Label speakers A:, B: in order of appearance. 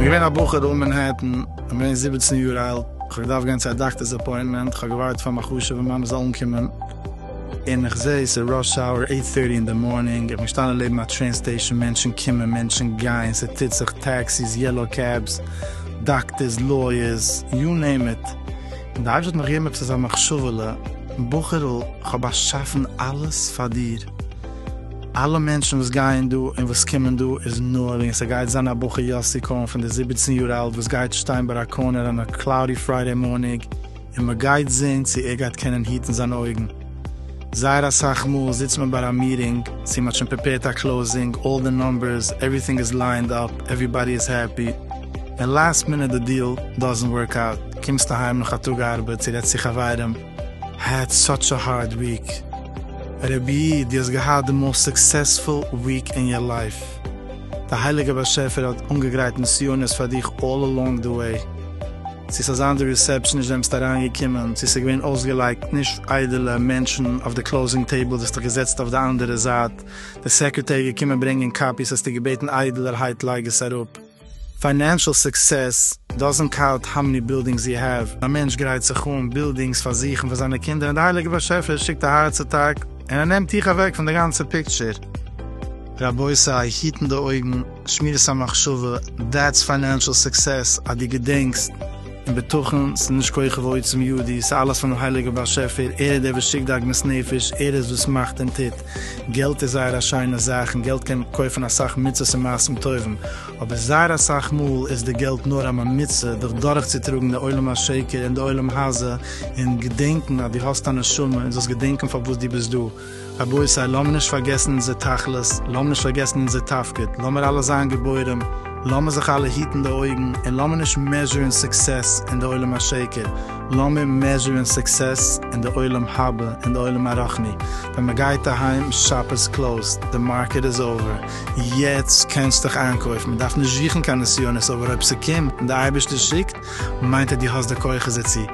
A: געווען א בחור דא אין מענהעטן, איך בין געווען זיבעצן יאר אלט, איך האב געדארפט גיין צו א דאקטער'ס אפוינטמענט, איך האב געווארט פאר מיין חשוב'ע מאמע זאל אנקומען, און איך זע עס איז ראש האוער עיט טערטי אין די מארנינג איך בין געשטאנען לעבן א טרעין סטעישאן מענטשן קומען מענטשן גייען ס'טוט זיך טעקסיס יעלאו קעבס דאקטערס לויערס יו נעים איט און די אייבערשטער האט מיך געגעבן עפעס אזא מחשבה'לע בחור'ל כ'האב באשאפן אלעס פאר דיר אלע מענטשן וואס גייען דא און וואס קומען דא איז נאר וועגן ס'גייט זיין א בחור יאסי כהן פון די זיבעצן יאר אלט וואס גייט שטיין ביי א קארנער אן א קלאודי פריידעי מארניג און מען גייט זעהן צו ער גייט קענען היטן זיינע אויגן. זייער אסאך מאל זיצט מען ביי א מיטינג, צו מ'האט שוין פריפעירט א קלאוזינג, אלל די נומבערס, עווריטינג איז ליינד אפ, עווריבאדי איז העפי, און לאסט מינוט די דיעל דאזענט ווארק אוט, קומסט אהיים נאך א טאג ארבעט צו רעדסט צו חברים, העד סאטש א הארד וויק. רבי' דו האסט געהאט די מאוסט סוקסעספול וויק אין יור לייף. די הייליגער באשעפער האט אנגעגרייט נסיונות פאר דיך אלל אלאנג די וועי. צו ס'איז אזאנס די ריסעפשן נישט וועמסט אריין געקומען, צו ס'איז געווען אויסגעלייגט נישט איידעלע מענטשן אויף די קלאוזינג טעיבל זיסטוך געזעצט אויף די אנדערע זייט, די סעקרעטערי געקומען ברענגען קאפיס האסטו געבעטן איידעלערהייט לייג עס אראפ. פיינענשעל סוקסעס דאזענט קאונט האו מעני בילדינגס יו העוו. א מענטש גרייט זיך אן בילדינגס פאר זיך און פאר זיינע קינדער און די הייליגע באשעפער שיקט א הארץ אטאק און ער נעמט דיך אוועק פון די גאנצע פיקטשער. רבותי היטן די אויגן. שמירת המחשבה, דעטס פיינענשעל סוקסעס אז דו געדענקסט, און בטחון, ס'איז נישט כח ועוצם ידי, ס'איז אלעס פונעם הייליגער באשעפער, ער איז דער וואס שיקט די עגמת נפש, ער איז וואס מאכט און טוט, געלט איז זייער א שיינע זאך און געלט קען קויפן אסאך מצות און מעשים טובים, אבער זייער אסאך מאל איז די געלט נאר א ממוצע דיך דורכצוטראגן די עולם השקר און די עולם הזה, און געדענקן אז דו האסט א נשמה און זאלסט געדענקן פארוואס דו ביסט דא. רבותי לאמיר נישט פארגעסן אונזער תכלית, לאמיר נישט פארגעסן אונזער תפקיד, לאמיר אלע זיין גיבורים, לאמיר זיך אלע היטן די אויגן, און לאמיר נישט מעזשורן סוקסעס אין די עולם השקר, לאמיר מעזשורן סוקסעס אין די עולם הבא, אין די עולם הרחני, ווען מען גייט אהיים, שאפ איז קלאוזד, די מארקעט איז אווער, יעצט קענסטיך איינקויפן, מען דארף נישט זוכן קיין נסיונות אבער אויב ס'קומט און די אייבערשטער שיקט, מיינט ער די האסט די כוחות דערצו,